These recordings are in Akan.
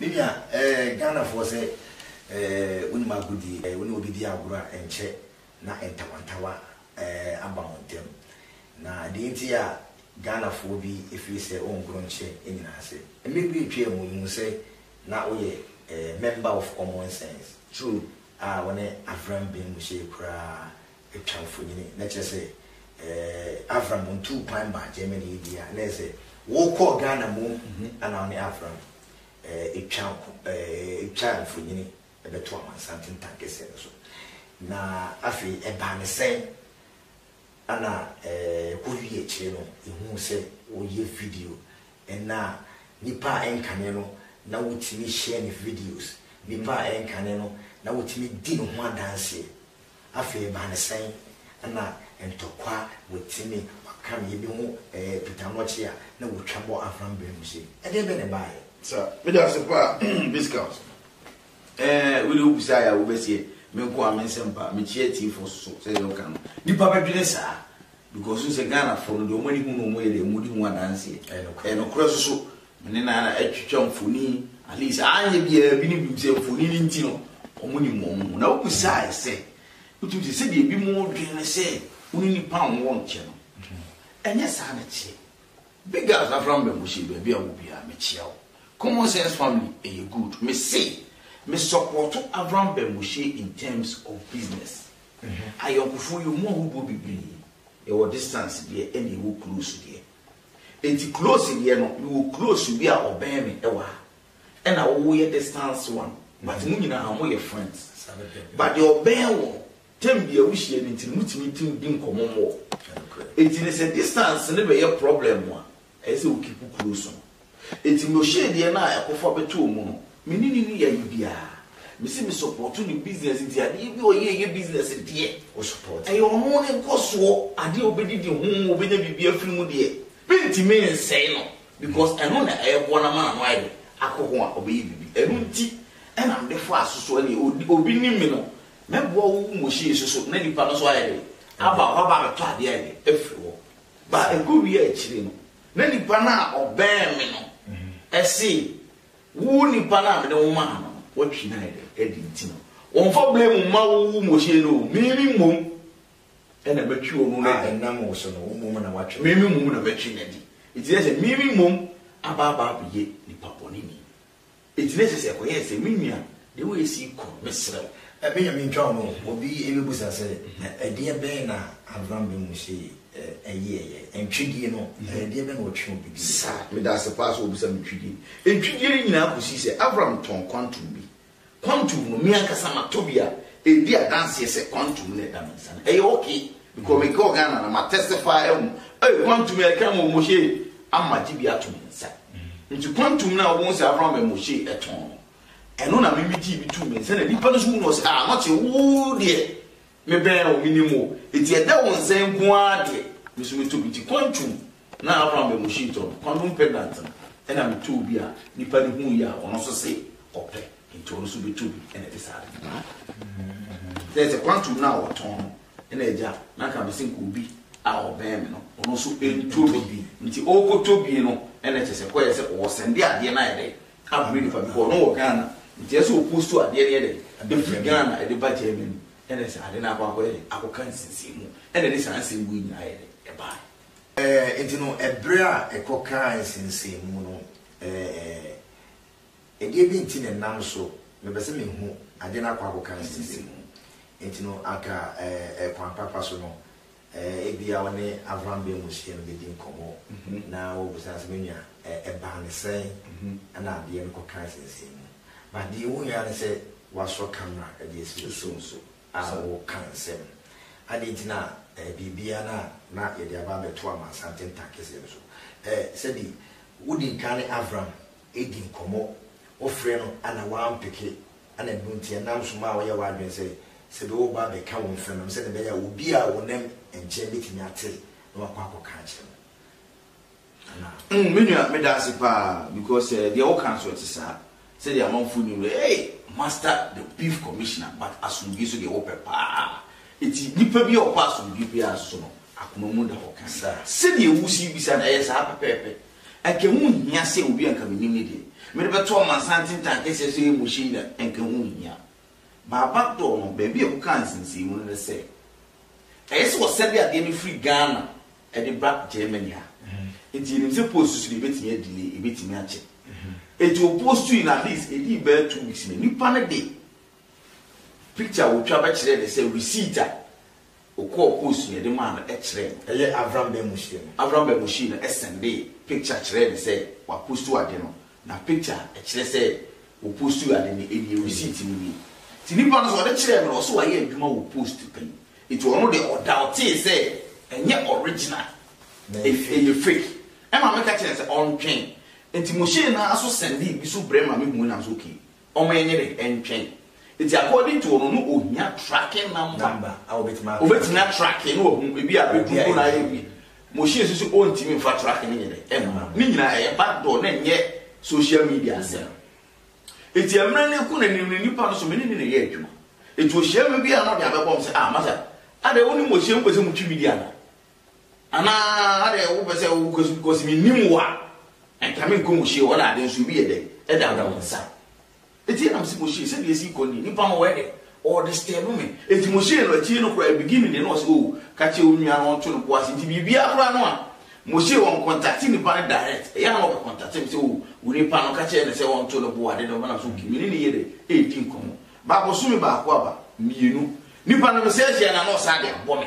Me nua eh Ghana foɔ sɛ eh wonim agodie eh wone obi di agorɔ a ɛnkyɛ na ntawantawa eh aba mo ntɛm na deɛ nti a Ghana foɔ bi ɛfiri sɛ ɔngorɔ nkyɛ ɛnyina ase. Mmɛ bi ɛtwaa mu yɛhunu sɛ na woyɛ eh member of common sense true a wone Avram Ben Mushie koraa Twa mfonini, na kyerɛ sɛ eh, Avram ntuu kwan mmaa Germany yi deɛ a, na yɛ sɛ wokɔɔ Ghana mu na wo ne Avram eh, twa nko, eh, twa mfonini bɛto amansanten tankɛseɛ no so. Na afei ɛbaa ne sɛn na eh, kɔwie akyire no, yɛhuu sɛ woyɛ video na nipa a ɛnkane no na wotumi hyɛ ne videos, nipa a ɛnkane no na wotumi di ne ho adanseɛ. Afei ɛbaa no sɛn na ntɔkwa a wɔtumi ɔka no yɛbi ho ɛɛ pitamoɔkye a na wɔtwa bɔ Avram berɛ mu sei? Ɛdeɛ bɛn na ɛbaeɛ? Sir, meda ase paa discount ɛɛ wei deɛ wobisaa yɛ a wobɛseɛ me nko a me nsɛm paa mekyea atiefoɔ so so sɛdeɛ woka no nnipa bɛdwene saa because wohu sɛ Ghanafoɔ no deɛ wɔn ani hu no wɔn yɛ dɛ wɔn di ho adanseɛ ɛyɛ nokorɛ nso so Me ne Nana atwitwa mfoni, at least anyɛ biara bi ne bi mu sɛ mfoni no nti no, wɔnim wɔn ho. Na wobisae sɛ, Wotumi te sɛdeɛ ebinom dwen no sɛ wo ne nnipa a wɔwɔ nkyɛ no? Ɛnyɛ saa na ɛteɛ. Big House, Afram Bamushie, baabi a wowɔ biara, mekyea wo. Common Sense Family, ɛyɛ good. Mese, me sɔpɔɔto Avram Bamushie in terms of business. Ayɔnkofoɔ, yɛwɔ mu ahodoɔ bebree. Yɛwɔ distance deɛ ɛnna yɛwɔ close deɛ. Enti close deɛ no mewɔ close bi a ɔbɛn me ɛwɔ ha ɛna wo yɛ distance one but mo nyinaa mo yɛ friends but deɛ ɔbɛn wo no term bia wo hyia no nti no mo tumi di di nkɔmɔ more enti no sɛ distance no bɛyɛ problem a ɛyɛ sɛ wo keep close no. Enti Moshe deɛ no a ɛkɔfa bɛtɔɔ mu no, me ne no nni ayɛ biara. Mese me sɔpɔɔto ne business nti adeɛ biara a ɔyɛ ɛyɛ business deɛ, wo sɔpɔɔto. Ɛyɛ ɔno ne nkɔsoɔ, adeɛ a ɔbɛdidi ho, ɔbɛnya biribi afiri mu deɛ, mentumi nsɛe no because ɛno na ɛboa no ama n'ano ayɛ dɛ akɔ ho a ɔbɛyɛ biribi. Ɛno nti na mede faa so so ɛneɛ ɔdi, obi nim me no, mɛboa wo wo Moshe nso so na nipa no nso ayɛ dɛ aba hɔ aba abɛtɔ adeɛ ayɛ dɛ afiri hɔ. But ɛkɔwie a akyire no, Na nipa no a ɔbɛn me no se, Wo nipa no a mede wo maa no no, woatwi no ayɛ dɛn? Ɛdeen nti no wɔmfa blame mma wo Moshe no o, me me mmom na matwi ɔno no adi. A ɛnam wo so no, wo mmom na woatwi no. Me me mmom na matwi no adi. Enti na ɛsɛ sɛ me me mmom aba aba abɛyɛ nipa bɔneni. Enti na ɛsɛ sɛ ɛkɔyɛɛ sɛ, Me nua, deɛ woasi yi kɔ, mesrɛ wo. Me Nyame ntwa wo no o. Obi bɛbisa sɛ, Na ɛdeɛ bɛn na Abraham ben Moshe yɛeɛ? Ntwedie no, ɛdeɛ bɛn na ɔtwe obi dii? Saa, meda ase paa sɛ wobisa me ntwedie. Ntwedie no nyinaa kɔsii sɛ Abraham tɔn kwantum bi Quantum no me ankasa matɔ bi a ɛdi adanseɛ sɛ quantum na ɛda me nsa no ɛyɛ ok because me kɔɔ Ghana na ma testify ahu ei quantum yɛ ɛka mo mo hyee ama gye bi ato me nsa nti quantum na wɔn sɛ Abraham ɛmo hyee ɛtɔn no ɛno na me me gye bi to me nsa na nipa no so hu no ɔsɛ ah not woo deɛ Mebɛn wo, menim wo, enti ɛdɛ wo nsa yi nko ara deɛ, me nso mɛtɔ bi. Gye kwan twum na Abraham bɛn Moshe tɔ no kwan nom pendant no. Ɛnna metɔɔ bi a nnipa no hui a ɔno nso se ɔpɛ, enti ɔno nso bɛtɔ bi, ɛnna ɛde saa ade no baeɛ. Kyerɛ sɛ, kwan twum no a wɔtɔn no, ɛnna Agya no anka me se nka obi a ɔbɛn me no, ɔno nso ntɔ bi, enti ɔrekɔtɔ bi no, ɛnna kyerɛ sɛ, kɔyɛ sɛ ɔresɛnde adeɛ no ayɛ dɛ Ama me nipa bi hɔ no wɔ Ghana nti ɛsɛ ɔposto adeɛ no yɛ dɛn ɛfiri Ghana ɛde ba Germany ɛna sɛ ade no akɔ akɔyɛ dɛn akɔka nsinsɛmu ɛna ɛde saa nsɛm wei nyinaa yɛ dɛn ɛbaeɛ. Ɛɛ nti no ɛberɛ a ɛkɔkaa nsinsɛmu no ɛɛ ɛdeɛ bi nti na ɛnam so mepɛ sɛ mehu adeɛ no akɔ akɔka nsinsɛmu nti no anka ɛɛ kwan papa so no Ebia wo ne Avram bɛn mmusua no bɛdi nkɔmmɔ na woabisa no sɛ, Me nua, ɛbaa no sɛn na adeɛ no kɔkaa nsɛnsɛn mu? But deɛ ɛwɔ mu yi ara ne sɛ woasɔ camera de asi wo so nso a woreka nsɛm. Adɛn nti na biribiara no a na yɛde aba abɛto amansan tentan kɛseɛ no so? Sɛbi wodi nkan ne Avram di nkɔmmɔ, wofrɛ no na wampeke Ana ɛno nti ɛnam nso ma woyɛ w'adwene sɛ sɛ bi woreba abɛka wo mfɛnom sɛnea ɛbɛyɛ a obi a ɔnam nkyɛn betumi ate na wakɔ akɔka akyerɛ no anaa? Mm, me nua, meda ase paa because eh, deɛ woka nso ɛte saa. Sɛdeɛ amanfo nim no, hey, master the beef commissioner but asomdwoe so deɛ wopɛ paa. Eti nipa bi a ɔpɛ asomdwoe paa nso no, akoma mu da hɔ kan. Sɛdeɛ wusi bisa no, ɛyɛ saa pɛpɛɛpɛ. Anka ɛho nhia sɛ obi a anka menim no deɛ, mede bɛto amansanten taa kɛseɛ so yɛ mohyɛ nnwa, anka ɛho nhia. Baabak Dɔɔ no, baabi a ɛkɔkaa nsensɛnmu no ne sɛ, ɛyɛ sɛ wɔsɛde adeɛ no firi Ghana de ba Germany ha, enti yɛnim sɛ post so deɛ ɛbɛtumi a delay, ɛbɛtumi akyɛ. Enti wɔpostui no, at least ɛdii bɛyɛ two weeks no, nnipa no de picture a wɔtwa bɛkyerɛɛ no sɛ receipt a Okɔɔ kɔɔ sua de maa no kyerɛɛ no. Ɛyɛ Avram Ben Mushie no. Avram Ben Mushie no sɛndee picture kyerɛɛ no sɛ wapostu ade no. Na picture a ɛkyerɛ sɛ wɔpostuu ade no nie, receipt no nie. Nti nipa no so ɔde kyerɛɛ me no ɔse wayɛ adwuma wɔ post pɛn. Nti ɔno deɛ ɔdaotee sɛ ɛnyɛ original, ɛyɛ fake. Ɛma meka kyerɛɛ no sɛ ɔntwɛn. Nti Mushie no ara so sɛndee bi so brɛ ma me hui na mese okay, wɔn ani rentwɛn. Nti according to wɔn no ohia tracking number a obetumi atracke na wahu ebi a beduru mu na ayɛ wie. Machine so so ontumi nfa tracking no nyɛ dɛ ɛmma. Ne nyinaa ɛyɛ back door na ɛnyɛ social media asɛm. Nti ɛmmerɛ no ko na nim ne nipa no so me ne ne na ɛyɛ adwuma. Nti ohyia me bi a na ɔde abɛbɔ me sɛ ah masa adɛn wonim ɔhyia mu pɛ sɛ motwi me di anaa? Anaa adɛn wo pɛ sɛ wo kɔ sukuu cause me nim wo a nka me nkɔ mo hyie hɔ na ade nso obi yɛ dɛ ɛdawda wo nsa ɛti na me se mo hyie sɛdeɛ ɛsi kɔ ni nipa no ɔyɛ dɛ ɔɔ disturb me ɛti mo hyie no akyiri no koraa beginning deɛ na ɔse oo ka kyerɛ wo nua no ɔnto no po ase nti biribiara koraa no a mo hyie wɔn contact nipa no direct ɛyɛ na ɔbɛ contact me sɛ oo wo nipa no ka kyerɛ no sɛ ɔnto no po ade no ɔbɛnam so me ne ne yɛ dɛ ɛredi nkɔmmɔ ba bosome baako aba mmienu nipa no me sɛ hyia na na ɔsan de abɔ me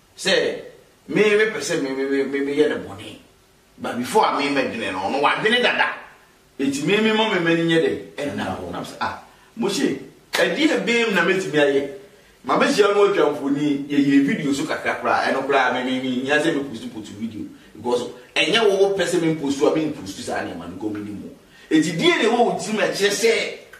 Sɛ me me pɛ sɛ me me me me meyɛ no bɔne but before a me mɛdwene no ɔno wadwene dada eti me me ma me m'ani nyɛ dɛ ɛnna hɔ nam sɛ ah Moshe ɛdeɛ bɛɛm na mɛtumi ayɛ ma me hyia no atwa mfoni yɛyɛ video so kakra koraa ɛno koraa me me me hia sɛ me post post video because ɛnyɛ wo wo pɛ sɛ me post a me post saa nneɛma no kɔ me ni mu eti deɛ na ɛwɔ wo tirim ɛkyerɛ sɛ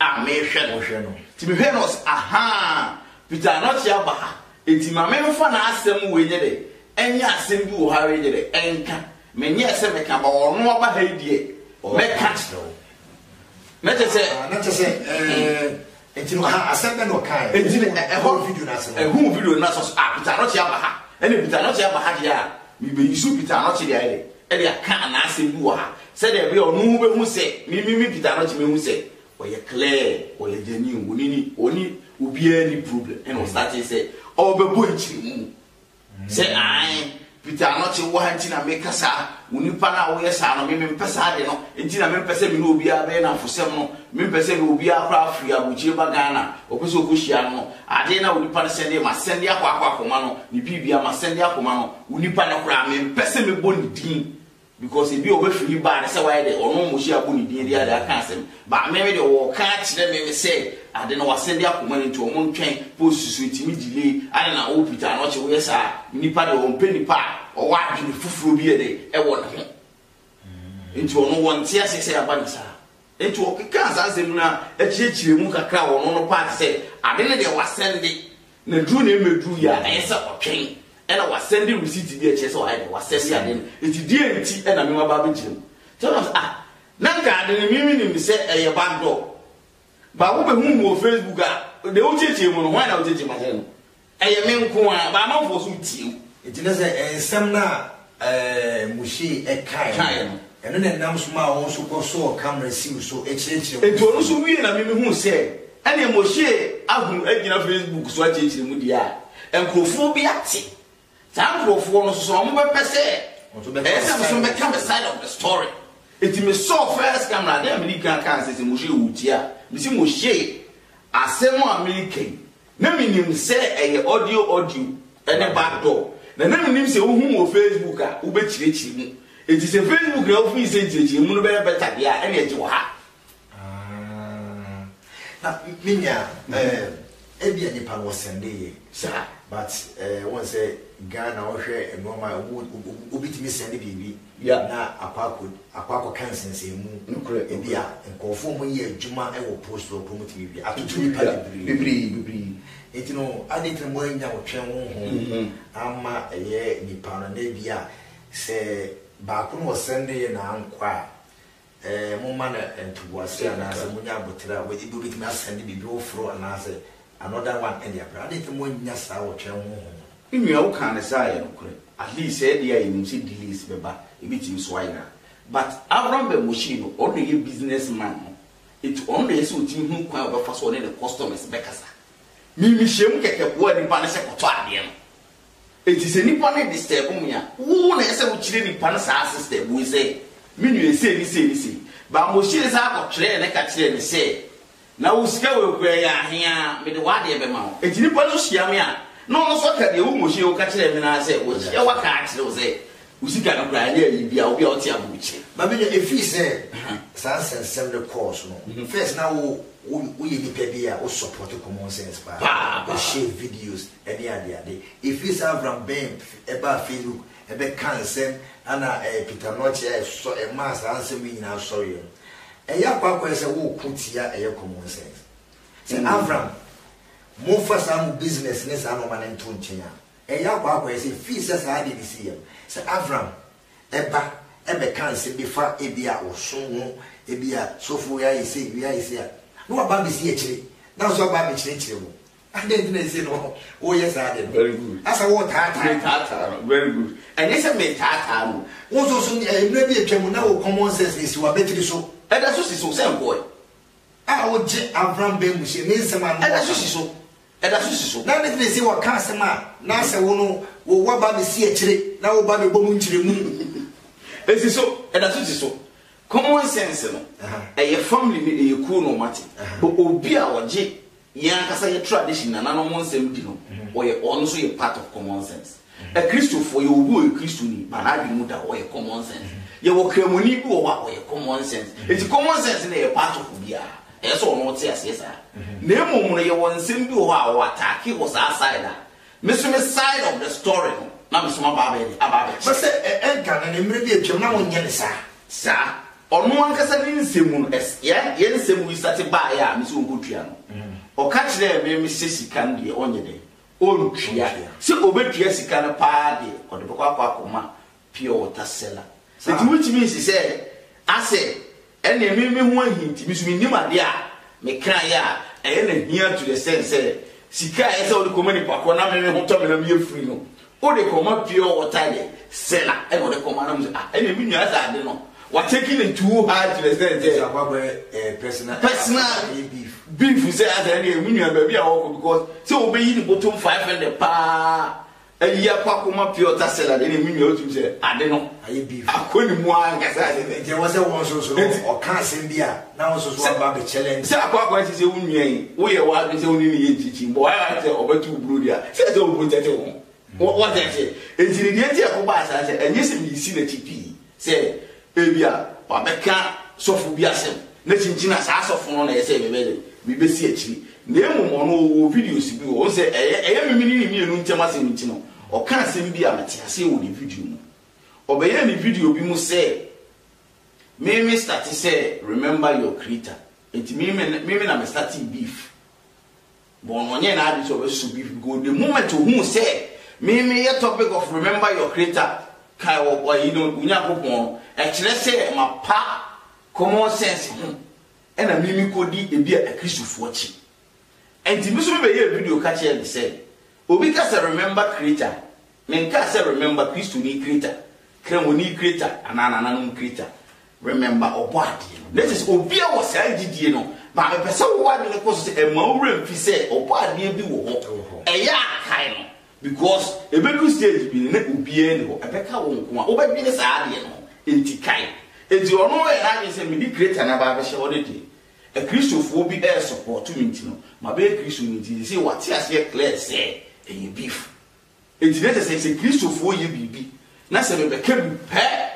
a merehwɛ no. Wohwɛ no. Nti mehwɛɛ no na ɔse, Ahaa, Peter Anokye aba ha, nti ma memfa n'asɛm wei nyɛ dɛ, ɛnyɛ asɛm bi wɔ ha wei nyɛ dɛ, ɛnka. Menyɛɛ sɛ mɛka, but ɔno aba ha yi deɛ, mɛka akyerɛ wo. Na kyerɛ sɛ. Ah, na kyerɛ sɛ, ɛɛ. Nti no, ah, asɛm bɛ na ɔkae. Nti no, ɛhɔ. Video no ase no. Ɛhuu video no na sɛ, ah, Peter Anokye aba ha. Ɛne Peter Anokye aba ha deɛ a, mebɛyi so Peter Anokye deɛ ayɛ dɛ, ɛde aka n'asɛm bi wɔ ha. Sɛdeɛ ɛbɛyɛ a ɔno behu sɛ me me me Peter Anokye mehu sɛ ɔyɛ clear, ɔyɛ genuine, ɔne ni ɔne obiara ni problem ɛna ɔstate sɛ ɔbɛbɔ nkyerɛmu sɛ ae Peter Anokye wɔ ha nti na meka saa, wo nipa no a woyɛ saa no me mempɛ saa ade no nti na mempɛ sɛ me ne obiara bɛyɛ namfosɛm no, mempɛ sɛ me obiara koraa firi abokyire ba Ghana ɔpɛ sɛ ɔkɔhyia no no, adeɛ no a wo nipa no sɛnde ma sɛnde akɔ akɔ akɔma no, ne biribia ma sɛnde akɔma no, wo nipa no koraa mempɛ sɛ mebɔ ne din Because ebi a ɔbɛfiri yi baa no sɛ wayɛ dɛ ɔno Moshe abɔ ne din de ade aka asɛm but meme deɛ wɔɔka akyerɛ meme sɛ ade no wasɛde akɔma no nti ɔmo ntwɛn post so ɛtumi delay adɛn na wo Peter Anokye woyɛ saa nipa deɛ ɔmpɛ nipa a ɔwɔ adwene foforɔ bi yɛ dɛ ɛwɔ ne ho nti ɔno wɔnte aseɛ sɛ yɛaba no saa. Enti ɔkekaa saa asɛm no ara kyerɛkyerɛɛ mu kakra wɔ ɔno no paa te sɛ ade no deɛ wasɛn de, na duru na ɛmmɛduru yɛ a, ɛyɛ sɛ ɔtwɛn ɛna wasɛn de receipt bi a ɛkyerɛ sɛ wayɛ dɛ wasɛn de ade no. Enti deɛ nti ɛna me maba abɛgyina mu. Tell us, ah, na nka ade no mimi nim sɛ ɛyɛ backdoor. Baako bɛhu mu wɔ Facebook a, deɛ wokyerɛkyerɛ mu no, hwan na wokyerɛkyerɛ mu akyerɛ no? Ɛyɛ me nko ara baa amanfoɔ nso retie wo. Nti na sɛ nsɛm no a Moshe kae Kaeɛ no, no. ɛno na ɛnam so maa wɔn nso kɔsɔɔ Kamera siw so kyerɛkyerɛɛ wɔn Nti ɔno nso wiee na me mehuu sɛ ɛneɛ Moshe ahunu agyina Facebook so akyerɛkyerɛ mu deɛ a, nkorɔfoɔ bi ate. Saa nkorɔfoɔ no nso sɛ wɔn bɛpɛ sɛ Wɔn nso bɛka ɛyɛ sɛ wɔn nso side of the mɛka me story. side of the story. Nti me sɔɔ first camera, adeɛ a medi kan kaa sɛ sɛ Moshe woretie a, mese Moshe, asɛm a mereka yi, Na me nim sɛ ɛyɛ audio audio ne back door na na me nim sɛ wohu wɔ Facebook a wo bɛ kyirɛ kyirɛ mu enti sɛ Facebook na wo firi sɛ nkyirɛ kyirɛ mu no bɛyɛ better deɛ a ɛne ɛgye wɔ ha. Na me nua eh, ebia nipa no ɔsɛnde yɛ saa but eh, wɔn sɛ Ghana ɔhwɛ nneɛma a obi tumi sɛnde biribi. Wia na akɔ akɔ akɔ akɔka nsensɛnmu Nokorɛ bi a nokorɛ. nkorɔfoɔ ɔmo yɛ adwuma wɔ post hɔ mpo ɔmo tumi wia atoto Ɔtumi nipa wia bebree bebree bebree nti no adɛn nti na mo annya ɔtwɛn honhom amma ɛyɛ nipa no na ebia sɛ baako na ɔsɛndeɛ na ankɔ a Ɛɛ, momma no ntoboase anaasɛ monya aboterɛ a wɔde bi wobɛtumi asɛn de biribi foforo anaasɛ another one ɛne abrɛ. Adɛn nti na moannya saa wɔ Twɛn Honhom no? Me nua wo kaa ne saa yɛ nokorɛ at least sɛɛ deɛ a yɛnim sɛ delays bɛba ɛbɛtumi so ayera but Abram Ben Moshie no ɔno na ɛyɛ business man no nti ɔno na ɛyɛ sɛ ɔtumi hunu kwan a ɔbɛfa so ɔne ne customers bɛkasa me me hyɛm kɛkɛ boa nipa no sɛ kɔtɔ adeɛ no Enti sɛ nipa no disturb me a, wo na ɛsɛ sɛ wo kyerɛ nipa no saa system wei sɛ, me nua sei ne sei ne sei. Bambohyire san kɔ twerɛɛ lɛta kyerɛɛ me sɛ, na wo sika wei koraa ɛyɛ ahe a, me de w'adeɛ bɛma wo. Enti nipa no nso hyia me a, na ɔno nso aka deɛ wo Mohyire wo ka kyerɛɛ me no ara sɛ, wahyia wo aka akyerɛ wo sɛ, wo sika no koraa ɛnyɛ ayi biara, obi a ɔte abom kyerɛ. Ba me nua, ɛfiri sɛ saa nsɛnsɛm no kɔɔ so no, first na wo, wo, woyɛ nipa bi a wo support common sense paa, wo share videos, ne adeade. Ɛfiri saa Avram Ben baa Facebook bɛkaa nsɛm a na ɛyɛ Peter-Notch a ɛsɔ ɛmaa saa nsɛm yi nyinaa sɔreeɛ no. Ɛyɛ akwakoraa sɛ woreko tia ɛyɛ common sense. Sɛ Avram, momfa saa mo business ne saa nnoɔma no nto nkyɛn a, ɛyɛ akwakoraa sɛ firi sɛ saa adeɛ no siiɛ no, sɛ Avram ba bɛka nsɛm bi fa ebia ɔsom ho, ebia sɔfo wei ayɛ sei, wei ayɛ sei a, na waba abɛsi akyire na nso aba abɛkyerɛkyerɛ mu. Adɛn nti na ɛsɛ na woyɛ saa ade no? Very good. Asa wotaataa. Metaataa no. Very good. Ɛnyɛ sɛ metaataa no. Wo nso so eh, mmerɛ bi atwa mu na wo common sense no si w'abatiri so. Ɛda so si so sɛ nkɔɔe. A wogye Abraham bɛn mu hyɛ ne nsɛm ano. Ɛda so si so. Ɛda so si so. Na ne tena si wɔka asɛm a na sɛ wo no wo waba ne si akyire na wo ba bɛbɔ mu nkyerɛmu. Ɛsi so. Ɛda so si so. Common sense no ɛyɛ family no ɛyɛ kuo no ɔmate. But obi a ɔgye Yɛn ankasa yɛn tradition nananom ho nsɛm di no ɔyɛ ɔno nso yɛ part of common sense. Akristofoɔ yɛwɔ obi ɔyɛ Kristoni but n'adwene mu da hɔ ɔyɛ common sense. Yɛwɔ Kramoni bi wɔ hɔ a ɔyɛ common sense. Enti common sense no yɛ part of obiara. Ɛyɛ sɛ ɔno ɔte aseɛ saa. Na mmom no yɛwɔ nsɛm bi wɔ hɔ a ɔwɔ attack wɔ saa side a Me so me side of the story no na me so maba abɛyɛ dɛ aba abɛkyerɛ. Bɛ sɛ ɛ ɛ Ghana no mmere bi atwam na wɔnyɛ ne saa. Saa. Ɔno ankasa ne nsɛm mu no ɛs yɛ yɛ nsɛm yi sate baeɛ a me sɛ ɔnkɔtua no ɔka kyerɛɛ me me sɛ sika no deɛ ɔnyɛ dɛ ɔntua sɛ ɔbɛtua sika no paa deɛ ɔde bɛkɔ akɔ akɔma Pure water seller. Enti wotumi si sɛ asɛ ɛneɛ me me ho ahi nti me so me nim adeɛ a me kra yɛ a ɛyɛ na hia to the sense sɛ sika a ɛyɛ sɛ wode kɔma nipa korɔ na me me ho tɔ me na me yɛ free no wode kɔma pure water yɛ seller ɛna wode kɔma na me sɛ ah ɛneɛ me nua sɛ ade no wa taking it too hard to the sense sɛ ɛsɛ akɔ akɔyɛ eh, personal personal beef beef sɛ asɛ ɛneɛ me nua baabi a wɔkɔ because sɛ wobɛyi ne bɔtom 500 paa Ayi akɔ akoma pure ta salad ɛna emu nua otum sɛ ade no ayɛ beef akɔ ne mu ankasa ade no ɛgye wɔn sɛ wɔn nso so no ɔka asɛm bi a na wɔn nso so aba abɛ challenge sɛ akɔ akɔ ɛsɛ sɛ wo nua yi woyɛ w'adwene sɛ wo ne ne yɛ nkyikyi bɔ ayɛ sɛ ɔbɛto wo burodi a sɛ ɛsɛ wo protect wɔn wɔn sɛ ɛsɛ ɛtiri deɛ ti ɛkɔ ba asaa sɛ ɛnyɛ sɛ meyisi n'akyi pii Sɛ ebia wɔabɛka sɔfo bi asɛm na kyinkyin a, saa sɔfo no na ɛsɛ sɛ mebɛyɛ dɛn? Mebesi akyiri. Na mmom ɔno ɔwɔ videos bi, wɔn sɛ ɛyɛ ɛyɛ me ne ne mmienu ntam asɛm nti no, ɔka asɛm bi a mete aseɛ wɔ ne video mu. Ɔbɛyɛɛ ne video bi mu sɛ, Me me starte sɛ remember your creator. Enti me me na me startee beef. Bono nyɛɛ n'adwene sɛ ɔbɛsɔ bi because the moment ohuu sɛ me meyɛ topic of remember your creator, kae wo ayi no, wo Nyankopɔn no, ɛkyerɛ sɛ mapa common sense ho ɛna me mekɔdi ebia Akristofoɔ akyi. Ɛnti me nso me bɛyɛɛ video ka kyerɛɛ no sɛ obi ka sɛ remember creator, menkaa sɛ remember Kristoni creator, Kramoni creator anaa nananom creator. Remember ɔbɔ adeɛ no na kyerɛ sɛ obi a wɔ saa gyidie no ba mepɛ sɛ wo adwene kɔ so sɛ ɛma wo werɛ mfi sɛ ɔbɔ adeɛ bi wɔ hɔ ɛyɛ a kae no because ɛbɛduru stage bi no na obiara ni hɔ ɛbɛka wo nko a wobɛdwene saa adeɛ no ho enti kae enti ɔno ɔyɛ n'adwene sɛ mede creator no aba abɛhyɛ hɔ no deɛ akristofoɔ bi ɛresupporto me nti no mabɛyɛ kristo no nti sɛ wate aseɛ clear sɛ ɛyɛ beef enti na kyerɛ sɛ sɛ kristofoɔ yɛ biribi na sɛ mebɛka bi pɛ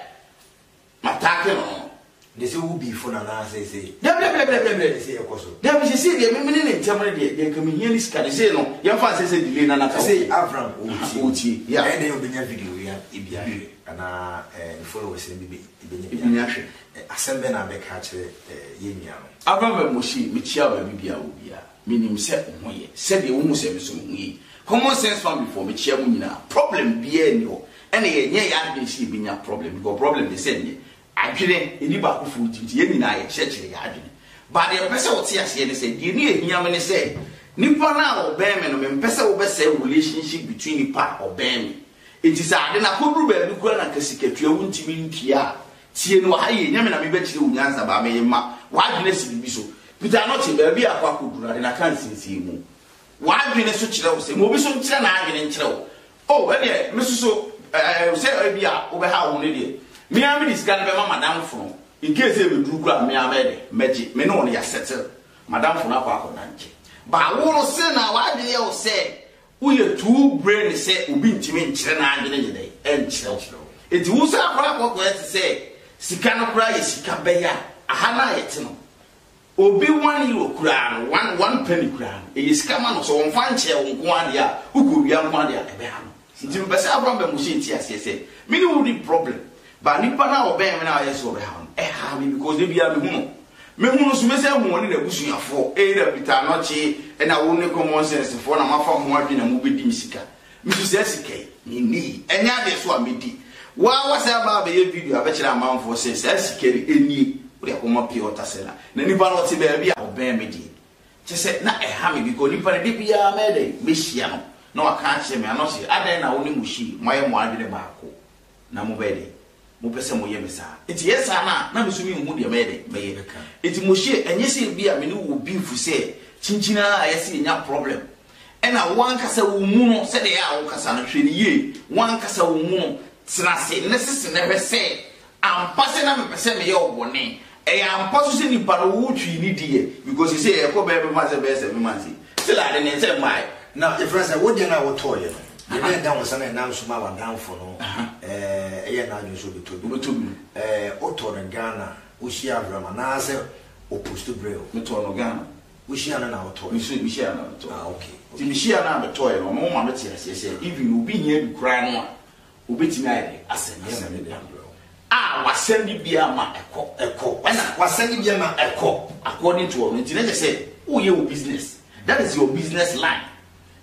Mataake no no. Nti sɛ wo bii fon anaa seesei. Dɛbdɛbdɛbdɛbdɛ ne sei ɛkɔ so. Daabi seesei deɛ me mene ne ntɛm no deɛ deɛ nka mehia ne sika no sei no yɛmfa nsɛ sɛ delay no anata wobɛhu. Seesei Avram ɔretie yi a ɛyɛ dɛn ɔbɛnya video yi bi ahwɛ anaa ɛɛ ne followers no bi bɛ bɛnya bi ahwɛ ahwɛ. Asɛm bɛn na abɛka akyerɛ ɛɛ yɛn nua no. Avram and Moshe mekyia wo baabi biaa wɔ biaa. Menim sɛ wo ho yɛ sɛdeɛ wo hu sɛ me nso me ho yɛ yi. Common sense family foɔ mekyea mo nyinaa. Problem biara nni hɔ. Ɛna yɛnyɛ yɛn adwene sɛ yɛbɛnya problem because problem deɛ sɛ ɛnyɛ. Adwene ɛdi baakofoɔ tirim nti yɛn nyinaa yɛkyerɛkyerɛ yɛn adwene. But deɛ mepɛ sɛ wo te aseɛ ne sɛ deɛ ɛdi ɛhia me ne sɛ nipa no a ɔbɛn me no mempɛ sɛ wo bɛsɛe wo relationship between nipa a ɔbɛn me. Nti sɛ ade no akɔduru baabi koraa na nka sikatua wo ntumi ntua a Tie no wɔ ha yie, nyɛ me na mebɛkyerɛ wo nyansa baa meye ma w'adwene si biribi so. Peter ano te baabi a akɔ akɔduru, ade no aka nsinsie mu. W'adwene so kyerɛ wo sɛ ma obi so nkyerɛ n'adwene nkyerɛ wo. Oh, ɛdeɛ, me so so, ɛɛ, sɛ ebi a wobɛhaw ho no deɛ, me ara mede sika no bɛma m'adamfo no, in case sɛ ɛbɛduru koraa a, me ara mɛyɛ dɛ, mɛgye, me ne ɔno yɛasettle, m'adamfo no akɔ akɔdankye. Baa wo no se na w'adwene yɛ wo sɛ Woyɛ too brain sɛ obi ntumi nkyerɛ n'adwene nyɛ dɛn ɛnkyerɛw. Enti wo nsa koraa kɔkɔ ɛte sɛ sika no koraa yɛ sika bɛyɛ a aha no a yɛte no obi one euro koraa no one one penny koraa no ɛyɛ sika ma no sɛ ɔmfa nkyɛɛ wo nko ara deɛ a wokɔ wia nko ara deɛ a ɛbɛha no. Nti mepɛ sɛ Abraham Bɛmose nte aseɛ sɛ me ne wo nni problem But nipa no a ɔbɛn me no a ɔyɛ sɛ ɔbɛhaw no, ɛhaw me because da biara mehu no. Mehu no nso, mɛsan ahu ɔne n'abusuafoɔ, either Peter Anokye ɛna wo ne common sense foɔ na moafa mo ho adwene na mobɛdi me sika. Me nso saa sika yi, menni. Ɛnyɛ adeɛ nso a mɛdi. Wo ara woasan aba abɛyɛ video abɛkyerɛ amanfoɔ sɛ saa sika yi, ɛnie, wode akɔma pure water seller. Na nipa no ɔte baabi a ɔbɛn me deɛ, kyerɛ sɛ na ɛha me because nipa no da biara mɛyɛ dɛn, mɛhyia no na waka akyerɛ me, Anokye, adɛn na wo ne Muhyi moayɛ mo adwene baako? na mobɛyɛ dɛn? Mopɛ sɛ moyɛ me saa? Enti yɛ saa no a, na me nso menhu deɛ mɛyɛ dɛn? Mɛyɛ. Enti Moshe, ɛnyɛ sɛ ebia me ne wo wɔ beef sɛ kyinkyin ara a yɛ sɛ yɛnya problem, ɛna wo ankasa wo mmu no sɛdeɛ ɛyɛ a wokasa no, hwɛ no yie, wo ankasa wo mmu no, tena ase na sisi na hwɛ sɛ ampa sɛ na mepɛ sɛ meyɛ wo bɔne, Ɛyɛ ampa so sɛ nipa no wo twi ne di yɛ because sɛ sɛ ɛkɔ bɛɛ bɛma sɛ bɛɛ seven months yi still ade ne nsɛ mmaɛ. Na yɛfrɛ sɛ wo deɛ no a wo tɔɔ yɛ no deɛ na ɛda wo sa na ɛnam so ma wa danfo no ɛɛ yɛ na adwene sɛ obɛtɔ bi. Obɛtɔ bi. Ɛɛ wo tɔɔ no Ghana wo hyia Abraham anaa sɛ o post brɛ o. Me tɔɔ no Ghana. Wo hyia no na wo tɔɔ yɛ. Meso me hyia no na me tɔɔ yɛ. Ah okay. Ti me hyia no a me tɔɔ yɛ no ɔno ma me te aseɛ sɛ even obi hia bi koraa no a Wobɛtumi ayɛ dɛn asɛm bi ama nnipa mmerɛw? A, w'asɛm bi biara ma ɛkɔ, ɛkɔ, ɛna w'asɛm bi biara ma ɛkɔ according to ɔno, nti na kyerɛ sɛ woyɛ wo business, that is your business line.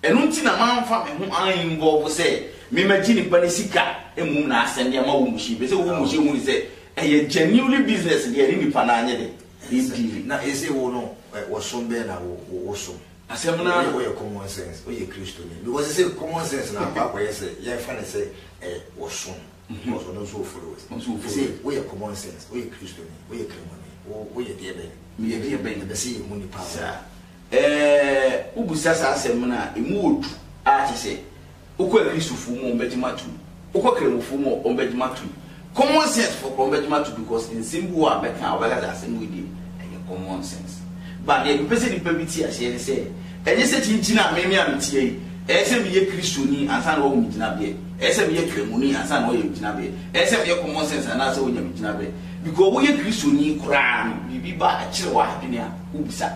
Ɛno nti na mamfa me ho an involve sɛ me ma gye nipa no sika mmom na asɛm bi ama wo mmuhyɛ, ɛfiri sɛ wo mmuhyɛ hu ne sɛ ɛyɛ genuinely business deɛ ɛne nipa no anyɛ dɛn, ɛdili. Na ɛsei wo no, ɔsom bɛn na wo, wo, wosom? Asɛm no ara. Wo yɛ common sense, wo yɛ Kristoni. Because they say common sense na akɔ akɔyɛ sɛ yɛn fa ne sɛ ɛyɛ ɔsom. Because ɔno nso o follow it. They say wo yɛ common sense, wo yɛ Kristoni, wo yɛ Kramoni, wo wo yɛ deɛ bɛn? Me yɛ deɛ bɛn? Ɛbɛ sɛ yɛ hu nipa. Saa. Ɛɛ, wo busa saa asɛm no a, emu wɔ du a kyɛ sɛ Wokɔ Akristofoɔ mu a wɔbɛgye mo atom. Wokɔ Kramofoɔ mu a wɔbɛgye mo atom. Common sense foɔ koraa wɔbɛgye mo atom because nsɛm bi wɔ hɔ a bɛka a wɔbɛka sɛ asɛm wei deɛ ɛyɛ common sense. But deɛ mepɛ sɛ nipa bi te aseɛ ne sɛ ɛnyɛ sɛ kyinkyin a meme a meteɛ yi ɛyɛ sɛ meyɛ Kristoni ansa na wɔahu me gyinabeɛ. Ɛyɛ sɛ meyɛ Kramoni ansa na wɔayɛ me gyinabeɛ. Ɛyɛ sɛ meyɛ common sense anaasɛ wɔanya me gyinabeɛ. Because woyɛ Kristoni koraa no biribi ba kyere w'adwene a wobisa.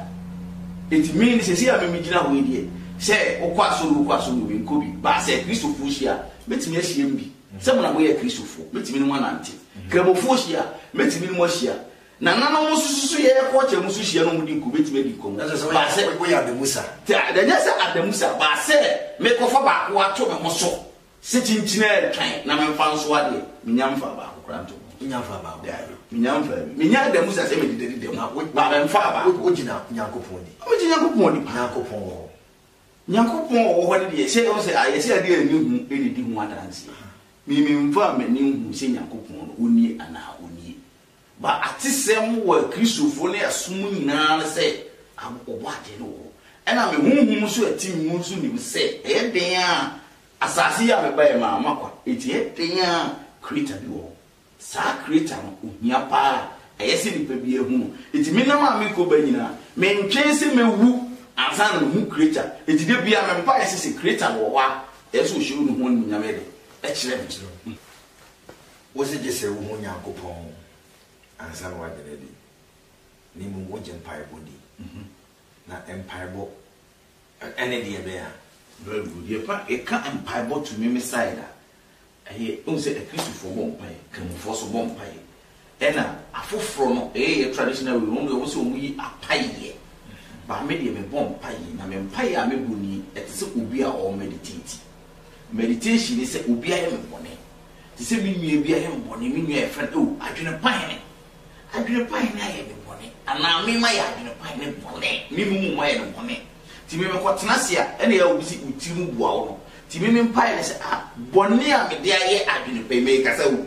Enti me no seesei a meme gyina hɔ yi deɛ Sɛ wokɔ asɔre o, wokɔ asɔre o, menkɔ bi. Baa sɛ Kristofoɔ hyia a, mɛtumi ahyia mu bi. Sɛ mo na moyɛ Kristofoɔ, mɛtumi ne mo anante. Kramofoɔ hyia a, mɛtumi ne mo ahyia. Nananom nso so, so yɛyɛ kɔɔkyɛr mu so hyia na wɔdi nkɔmmɔ, mɛtumi adi nkɔmmɔ. Ɛnso sɛ woyɛ, woyɛ adamusa. Te a, ɛnyɛ sɛ adamusa. Baa sɛ merekɔfa baako ato me ho so Se kyinkyin ɛɛtwan na menfa nso a deɛ, menya mfaa baako koraa nto ho. Wonya mfaa baako koraa? Daabi, menya mfaa bi. Menya adamu sa sɛ mededa di dɛm, Na wo, baa memfaa baako. wo, wogyina Nyankopɔn ni. Megye Nyankopɔn di paa. Nyankopɔn wɔ hɔ. Nyankopɔn a ɔwɔ hɔ no deɛ, sɛ ɛwɔ sɛ ayɛ sɛ adeɛ a ɛnni ho na ɛdi ho adanseɛ. Me, memfaa m'ani nhuu sɛ Nyankopɔn no, ɔnnie anaa ɔnnie. Ma atesɛm wɔ Kristofo ne ɛsom nyinaa ne sɛ Ɔbɔadeɛ no wɔ hɔ, ɛnna me honhom nso a ɛte me mu nso nim sɛ ɛyɛ den ara a asase yi a mebae mu ara makwa, enti ɛyɛ den ara a Creator bi wɔ hɔ. Saa Creator no, ohia pa ara, ɛyɛ sɛ nnipa biara hu no. Enti me nam a merekɔ ba nyinaa, mentwɛn sɛ mɛwu ansa na mahu Creator. Enti da biara me mpaeɛ sɛ sɛ Creator no wɔ hɔ a, ɛyɛ sɛ ɔhyɛ Onii ho animuonyam, ɛyɛ dɛ, kyerɛ me. Wose gye sɛ wuhu Nyankopɔn ansa na woagye no adi, na mmom wogye mpaebɔ di. Na mpaebɔ ne deɛ bɛn a? Very good. Yɛpa, yɛka mpaebɔ to me, me side a, ɛyɛ, wohu sɛ Akristofoɔ bɔ mpaeɛ, Kramofoɔ nso bɔ mpaeɛ, Ɛna afoforɔ no ɛyɛ yɛ traditional way wɔn deɛ wɔn sɛ wɔn yi apayeɛ but me deɛ me bɔ mpaeɛ na me mpaeɛ a me bɔ nie ɛte sɛ obi a ɔɔ meditate meditation ne sɛ obi ayɛ me bɔne te sɛ me nua bi ayɛ me bɔne me nua yɛfrɛ no oh adwene pa hene adwene pa hene ayɛ me bɔne anaa me ma yɛ adwene pa hene bɔne me mu mu ma yɛ no bɔne ti me mekɔ tena se a ɛna yɛ obi si otiri mu bua wo no ti me me mpaeɛ ne sɛ ah bɔne a me de ayɛ adwene pa yi mekasa wo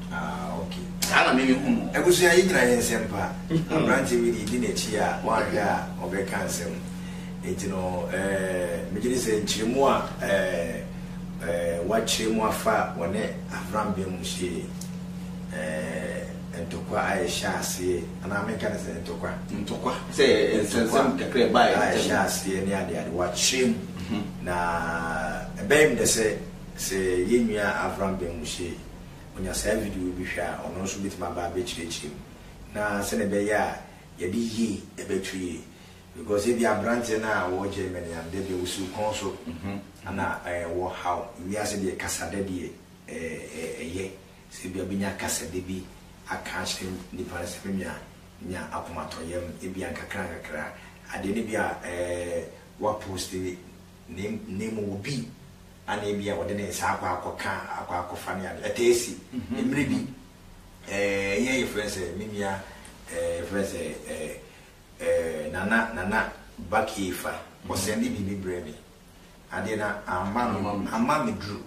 Ah ok saa na me me hu no. Abusua yɛnyina yɛ nsɛm pa abrante wei deɛ di nakyi a wanhwɛ a ɔbɛka nsɛm nti no eh megyedi sɛ nkyeremu a eh eh wakyeremu afa wɔne Avram Ben Musyie eh ntokwa a ɛhyɛ aseɛ anaa menka no sɛ ntokwa ntokwa sɛ nsɛnsɛm kakra ɛbaɛ ntɛm a ɛhyɛ aseɛ ne adeade wakyeremu na ɛbɛyɛ me dɛ sɛ sɛ yɛnua Avram Ben Musyie onya saa video bi hwɛ a, ɔno nso bɛtumi aba abɛkyerɛkyerɛ mu na sɛdeɛ ɛbɛyɛ a yɛde yie bɛto yie. Because ebia aberanteɛ no a ɔwɔ Germany a da bi a ɔsi wo kɔn so na ɛwɔ ha o, wiase deɛ kasadɛ deɛ ɛyɛ, sɛ ebia bɛnya kasadɛ bi aka akyerɛ nipa no sɛ me nua nya akomatɔyam ebia nkakra nkakra, adeɛ no bi a woaposte ne mu obi Ana ebia ɔde ne nsa akɔ akɔka akɔ akɔfa ne ade. Ɛtaa si. Mmere bi, eh, ɛyɛ yɛfrɛ no sɛ, me nua, eh, yɛfrɛ no sɛ, eh, eh, Nana, Nana Bakiefa, ɔsɛnde biribi brɛɛ me. Adeɛ no amma me, amma me duru.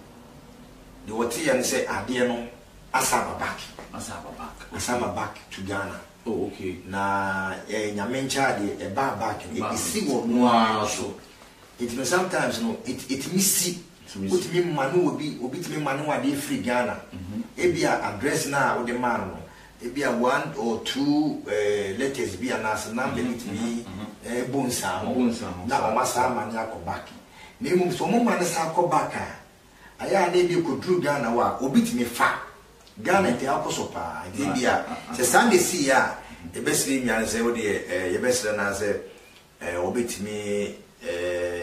Deɛ wɔteeɛ ne sɛ adeɛ no asa aba back. Asa aba back. Asa aba back to Ghana. Oh, okay. Na, eh, Nyame nkyɛn adeɛ, ɛbaa back no, ɛsi wɔ noaa so. Nti no sometimes no ɛtumi si, wotumi ma ne obi, obi tumi ma ne wo adeɛ firi Ghana, ebi a address no a wode maa no no, ebi a one or two letters bi anaa sɛ number bi tumi bɔ nsiaho na wɔn asan ama no akɔ back. Na mmom sɛ wɔn ma no san kɔ back a, ayɛ a na ebi ɛkɔduru Ghana hɔ a, obi tumi fa. Ghana nti akɔ so paa, nti ebi a sɛ saa na ɛsiiɛ a, yɛbɛsrɛ nnuane sɛ wodeɛ yɛbɛsrɛ no ara sɛ Wɔbɛtumi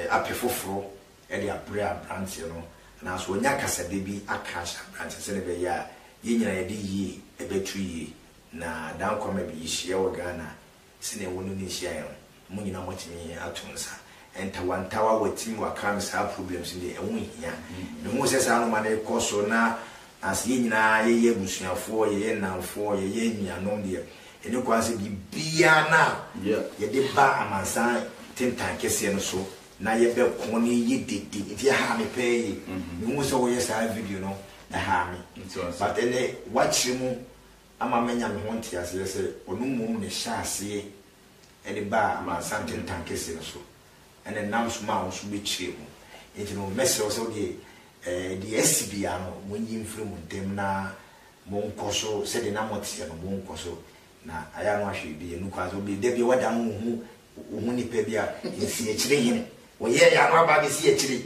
apɛ foforɔ de abrɛ aberanteɛ no anaasɛ wɔanya kasabe bi aka akyerɛ aberanteɛ sɛdeɛ ɛbɛyɛ a yɛn nyinaa yɛde yie ɛbɛto yie. Na Dan Kwame bi hyia wɔ Ghana sɛdeɛ wo ne no nhyiaeɛ no mo nyinaa moatumi ato nsa ntawantawa watumi wakram saa problems no deɛ ɛho nhia. Mehuu sɛ saa nnoɔma no rekɔ so na Na sɛ yɛn nyinaa yɛyɛ abusuafoɔ, yɛyɛ nnamfoɔ, yɛyɛ anuanom deɛ, ɛni kwan sɛ biribiara no a yɛde ba amansan tentan kɛseɛ no so na yɛbɛko na ɛyɛ dede. Nti ɛhaa me paa yie. Mehuu sɛ woyɛ saa video no, ɛhaa me. But ɛnnɛ, woakyerɛ mu ama manya me ho nteaseɛ sɛ ɔno mmom na ɛhyɛɛ aseɛ de baa amansan tentan kɛseɛ no so. ɛna ɛnam so maa wo nso bɛkyerɛ mu. Enti no, mɛsrɛ wo sɛ wo deɛ, ɛɛ, deɛ asi biara no, monyi mfiri mo ntam na monkɔ so sɛdeɛ na moteɛ no, monkɔ so. Na ayɛ a na wahwɛ biribi anu koraa sɛ obi, da bi a wadan wo ho, wohu nnipa bi a, nsiakyire hene, wɔyɛɛyɛ a na waba abɛsi akyire,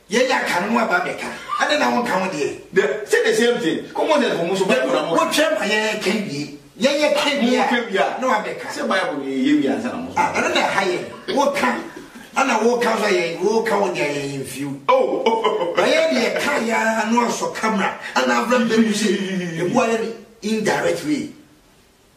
Yɛ ya ka no aba bɛ ka. Adɛn na wonka wo deɛ. The say the same thing ko mo sɛ ɔmo so bible na mo. Wo twɛ ma yɛ ka wie. Yɛ yɛ ka wie a. Mo ka wie a. Na wa bɛ ka. Sɛ bible no yɛ yɛ wie ansa na mo so. Ah ɛno na ɛha yɛ. Wo ka ɛna wo ka nso yɛ wo ka wo deɛ yɛ yɛ nfiw. Oh oh. Na yɛ deɛ ka yɛ a no asɔ camera ɛna abira bɛ mu se ebu ayɛ indirect way.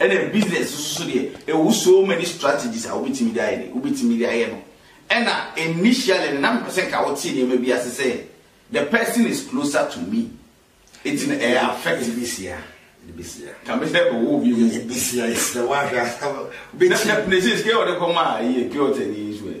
Ɛna business nso so deɛ ɛwɔ so many strategies a wobɛtumi de ayɛ de wobɛtumi de ayɛ no. Ɛna initially no na mepɛ sɛ nka wote nneɛma bi ase sɛ the person is closer to me ɛti no ɛyɛ affect. Ɛbɛsia. Ɛbɛsia. Ka me sɛ bɛwɔ obi mu. Ɛbɛsia ɛsɛ wahwɛ asɛm. Bɛtia. Na ɛsɛ sika ɔde kɔma ɛyɛ pure water ni nso ɛ.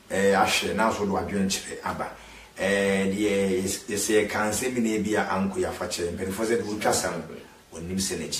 Eh, ahwɛ na so do adwenkyerɛ aba. Eh, deɛ yɛ, yɛsɛ yɛka nsɛm nyinaa bi a anko yɛ afakyɛ. Mpanyinfoɔ sɛ deɛ wotwa sa no, wɔnnim sɛ n'akyi.